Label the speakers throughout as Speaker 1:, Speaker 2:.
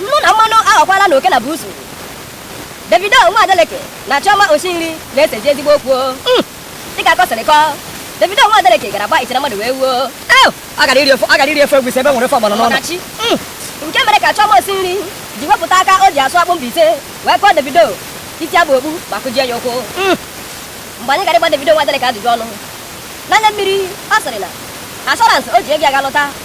Speaker 1: Nnu na mmanụ aghọkwalanụ oke na buusu. Davido nwa Adeleke na Chioma Oshinri na-esezi ezigbo okwu. Hmm. Dịka akụkọ siri kọọ, Davido nwa Adeleke gara gba ichere mmadụ wee wuo. Ọ gara iri ofe ọ gara iri ofe egwusi ebe e nwere ofe ọgbọnọ n'ụlọ. Hmm. Nke mere ka Chioma Oshinri ji wepụta aka o ji asụ akpụ Mbaise wee kụọ Davido isi aba okpu ma kụjie ya ụkwụ. Hmm. Mgbe anyị gara ịgba Davido nwa Adeleke ajụjụ ọnụ, n'anya mmiri ọ sịrị na assurance o ji ego ya ga lụta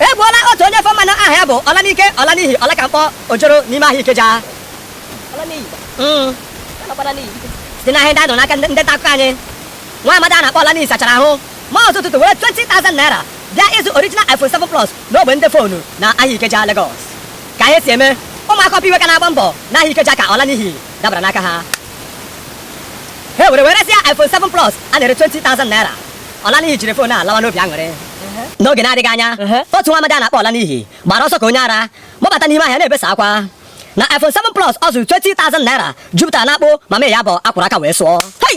Speaker 1: E gbuola otu onye ofe mmanụ aha ya bụ Ọlanike Ọlanihi Ọlakamkpọ ojoro n'ime ahịa Ikeja. Mm. Site n'ihe anyị nụrụ n'aka ndị nta akụkọ anyị, nwa amadi a na-akpọ Ọlanihi sachara ahụ maa ụzọ ụtụtụ were 20,000 naira bịa ịzụ original iPhone 7 Plus n'ogbe ndị foonu na ahịa Ikeja, Lagos. Ka ihe si eme, ụmụaka Upper Iweka na-agba mbọ n'ahịa Ikeja ka Ọlanihi dabara n'aka ha. Ha were wee resị ya iPhone 7 Plus a na-ere 20,000 naira. Ọlanihi jiri fon a lawa n'obi aṅụrị n'oge na-adịghị anya otu nwa amadi a na-akpọ Ọlanihi gbara ọsọ ka onye ara gbabata n'ime ahịa na-ebesa akwa na iPhone 7 Plus ọ zụrụ 20,000 naira jupụtara n'akpụ ma mee ya bụ a kwọrọ aka wee sụọ Hey!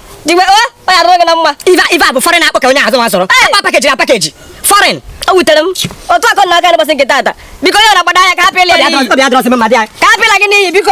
Speaker 1: Diwe o, ọ ya gị na mma. Iva Iva bụ foreign akpọ ka onye azụ nwa sọrọ. Akpa pakeji na pakeji. Foreign. O wutere m. Otu akọ na aka n'ụbọchị nke tata. Biko onye na-agbada ya ka apịla ya n'iyi. Obi adọrọsị m ma dị ya. Ka apịla gị n'iyi biko.